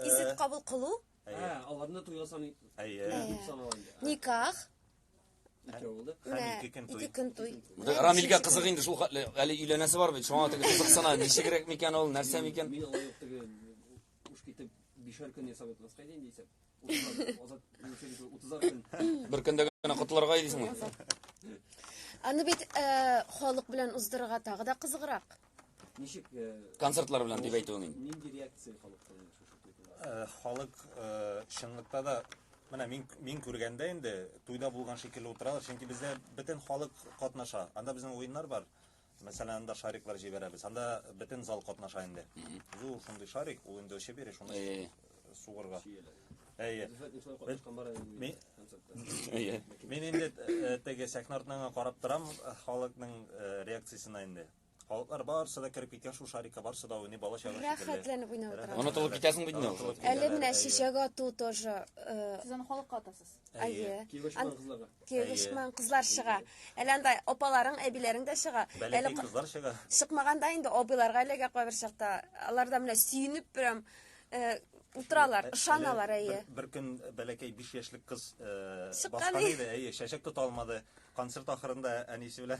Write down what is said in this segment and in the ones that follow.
Исет э, кабул кылу? Әйе. Ә, аларны туйга саный. Әйе. Дип санала инде. Никах. Икәү булды. Һәм ике көн туй. Ике көн туй. Рамилгә кызык инде шул хәтле. Әле өйләнәсе бар бит. Шуңа теге кызыксына. Ничегрәк микән ул, нәрсә микән? Мин алай ук теге уш китеп бишәр көн ясап ятмаска иде инде исәп. Азат 30 көн. Бер көндә генә котларга идисеңме? Аны бит э, халык белән уздырырга тагы да кызыграк. Ничек концертлар белән дип әйтүең инде. Нинди реакция халыкта инде Халык чынлыкта да менә мин мин күргәндә инде туйда булган шикелле утыралар, чөнки бездә бөтен халык катнаша. Анда безнең уеннар бар. Мәсәлән, анда шариклар җибәрәбез. Анда бөтен зал катнаша инде. Зур шундый шарик, ул инде очып йөри, шуны сугырга. Әйе. Мин инде теге сәхнә артына карап торам, халыкның реакциясенә инде. Халыклар барысы да кереп киткән шул шарикка барысы да уйный бала чагы шикелле. Рәхәтләнеп уйнап утыра. Рәхәтләнеп Онытылып утыра. китәсең бит инде ул. Онытылып Әле китәләр, менә әйе. чәчәк ату тоже. э, Сез аны халыкка атасыз. Әйе. Әйе. Киеве шуңа кызларга. Киеве Әйе. шман кызлар чыга. Әле анда апаларың, әбиләрең дә чыга. Әле Бәләкәй ка- кызлар чыга. чыкмаганда инде абыйларга эләгә кайбер чакта. Алар да менә сөенеп прям э, утыралар, Ә- ышаналар, әле әйе. Бер, бер көн бәләкәй 5 яшьлек кыз э, Чыккан баскан иде. иде, әйе, чәчәк тота алмады. Концерт ахырында әнисе белән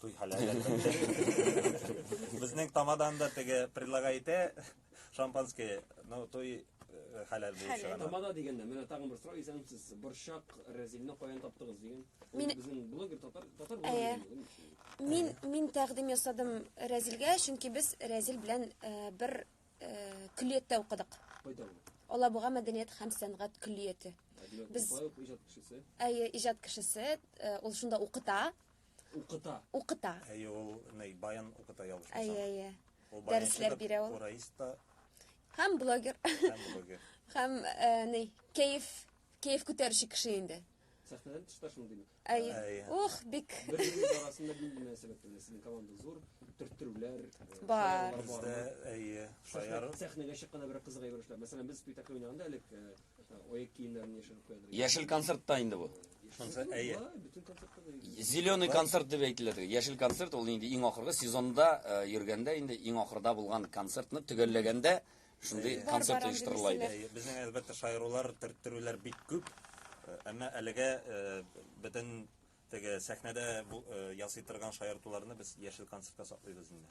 Туй халәле. Безнең тамадан да теге предлагай итә шампанское, но туй э, халәл булып чыга. Тамада дигәндә, менә тагын бер сорау исәнсез. Борчак Рәзилне каян таптыгыз дигән. Мин безнең блогер татар татар блогер. Мин мин тәкъдим ясадым Рәзилгә, чөнки без Рәзил белән э, бер э, көллияттә укыдык. Кайда ул? Алабуга мәдәният һәм сәнгать көллияте. Без иҗат кешесе. Әйе, иҗат кешесе. Ул шунда укыта. Укыта. Укыта. Әйе, ул ней баян укыта ялгышмасам. Әйе, әйе. Дәресләр бирә ул. Ураиста. Һәм блогер. Һәм блогер. Һәм э, ней кәеф кәеф күтәрүче кеше инде. Сәхнәдән тышта шундый бит. Әйе. Ух, бик. Бер-берегез арасында нинди мөнәсәбәт белән сезнең команда зур төрттерүләр э, бар. Бездә әйе, шаяр. Сәхнәгә чыкканда бер кызык әйбер эшләп. Мәсәлән, без спектакль уйнаганда элек э, Яшел концерт та инде бу. Зеленый концерт дип әйтелә теге. Яшел концерт ул инде иң ахыргы сезонда э, йөргәндә инде иң ахырда булган концертны төгәлләгәндә шундый концерт оештырыла иде. Безнең әлбәттә шаярулар, төрттерүләр бик күп. Э, әмма әлегә э, бөтен теге сәхнәдә ясый торган шаяртуларны без яшел концертка саклыйбыз инде.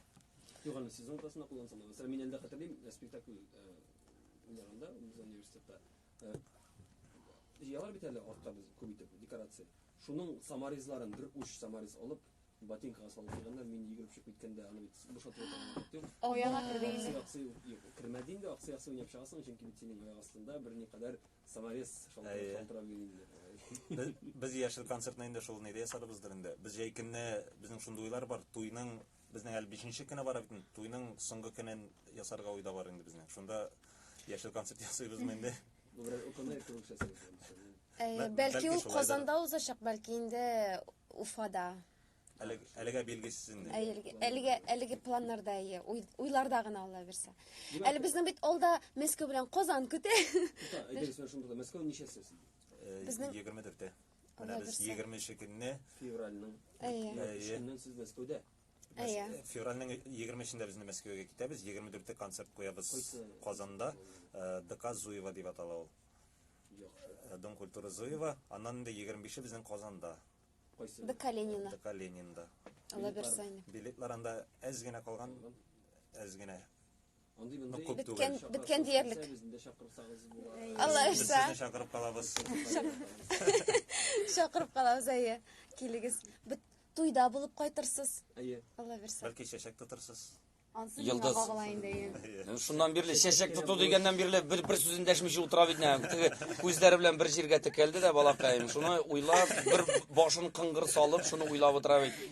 Юганы сезон тасына куллансам, мәсәлән, мин әлдә хәтерлим, спектакль Уйнаганда без университетта җыялар бит әле артка без күп итеп декорация. Шуның саморезларын бер уч саморез алып, ботинкага салып куйганнар, мин йөгереп чыгып киткәндә аны бит бушатып ятарга юк. Аяга керде инде. Аксый юк, кермәде инде, аксый аксый уйнап чыгасың, чөнки бит синең аяк астында берникадәр саморез шалтырап йөри инде. Без яшел концертны инде шул нидә ясадыбыздыр инде. Без җәй көнне безнең шундый уйлар бар, туйның Безнең әле бишенче көне бар бит. Туйның соңгы көнен ясарга уйда бар инде безнең. Шунда яшел концерт ясыйбызмы инде? Бу бер укымай кебек Бәл- Бәлки ул Казанда узачак, бәлки инде Уфада. Әле- Әлегә билгесез инде. Әлеге, әлеге, әлеге планнарда, әйе, уй- уйларда гына алла бирсә. Әле безнең бит алда Мәскәү белән Казан көтә. Әйдәгез, менә шунда да Мәскәү ничәсе? Безнең- 24-тә. Менә без 20 нче көнне февральнең 3 көннән сез Мәскәүдә. Әйе. Февральнең 23-ндә без Мәскәүгә китәбез, 24-тә концерт куябыз Казанда, э, ДК Зуева дип атала ул. Яхшы. Э, Дом культуры Зуева, аннан инде 25-е безнең Казанда. Кайсы? ДК Ленина. ДК Ленинда. Алла берсе. Билетлар анда әз генә калган, әз генә. Нык күп түгел. Беткән, беткән диярлек. Алла Без ышса, сезне чакырып калабыз. чакырып калабыз, әйе. Килегез. Бит туйда булып кайтырсыз. Әйе. Алла бирсә. Бәлки чәчәк тотырсыз. Ансы миңа Йолдыз. кагыла инде. әйе. Шуннан бирле чәчәк тоту дигәннән бирле бер бер сүзен дәшмичә утыра бит нәм. Теге күзләре белән бер җиргә текәлде дә балакаем. Шуны уйлап, бер башын кыңгыр салып, шуны уйлап утыра бит.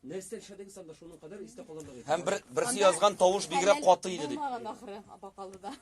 Нәрсә эшләдегез анда шуның кадәр истә калырлык иде? Һәм бер, берсе язган тавыш бигрәк каты иде дип. Булмаган ахыры бакалыда.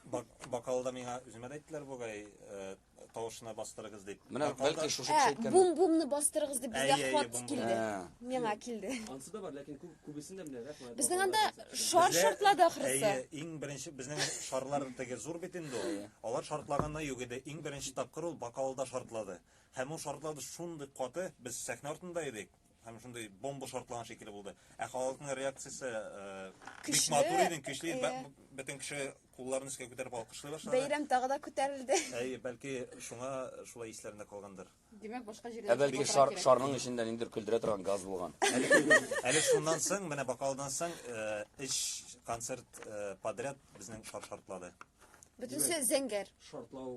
Бакалыда миңа үземә дә әйттеләр бугай, э, тавышына бастырыгыз дип. Менә бәлки шушы кеше әйткән. Бум-бумны бастырыгыз дип безгә хат килде. Миңа килде. Ансы да бар, ләкин күбесендә менә рәхмәт. Безнең анда шар шартлады ахырысы. Әйе, иң беренче безнең шарлар теге зур бит инде ул. Алар шартлаганда юк иде. Иң беренче тапкыр ул бакалыда шартлады. Һәм ул шартлады шундый каты, без сәхнә артында идек. һәм шундый бомба шартланган шикелле булды. Ә халыкның реакциясе э, бик матур иде, көчле иде. Бөтен кеше кулларын өскә күтәреп алкышлый башлады. Бәйрәм тагы да күтәрелде. Әйе, бәлки шуңа шулай исләрендә калгандыр. Димәк, башка җирдә. Ә бәлки шар, шарның эчендә ниндер көлдерә торган газ булган. Әле шуннан соң, менә бакалдан соң, э, эш концерт э, подряд безнең шар шартлады. Бөтенесе зәңгәр. Шартлау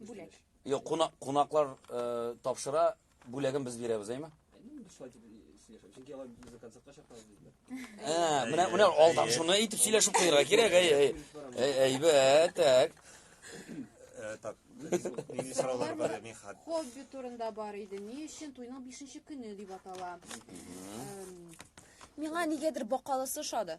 Бүләк. Юк, кунак, кунаклар э, тапшыра, бүләген без бирәбез, әйме? Чөнки алар безне концертка чакырды диделәр. Ә, менә менә алдан шуны әйтеп сөйләшеп куярга кирәк, әй, әй. Әй, әйбәт, так. Э, Так, нинди сораулар бар, мин хат. Хобби турында бар иде. Ни өчен туйның 5 көне дип атала? Эм, Миңа нигәдер бакалысы ошады.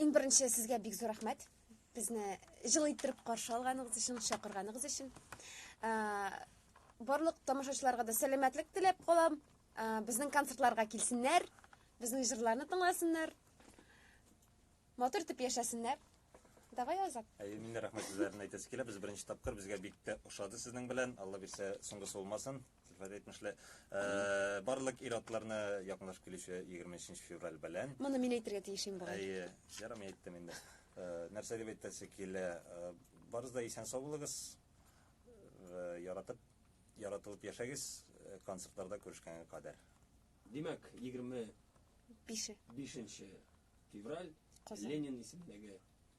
Иң беренче сезгә бик зур рәхмәт. Безне җылы иттереп каршы алганыгыз өчен, чакырганыгыз өчен. Барлык тамашачыларга да сәламәтлек теләп калам. Безнең концертларга килсеннәр, безнең җырларны тыңласыннар. Матур итеп яшәсеннәр. Давай Азат. Әйе, мин дә рәхмәт сүзләрен әйтәсе килә. Без беренче тапкыр, безгә бик тә ошады сезнең белән. Алла бирсә, соңгысы булмасын. Сәлфәт әйтмешли, э, барлык ир-атларны якынлашып килүче 23 февраль белән. Моны мин әйтергә тиеш инде. Әйе, ярым әйттем инде. Э, нәрсә дип әйтәсе килә? Э, барыз да исән сау булыгыз. Э, яратып, яратылып яшәгез, э, концертларда күрешкәнгә кадәр. Димәк, 20 Бише. 5 февраль Казан. Ленин исемендәге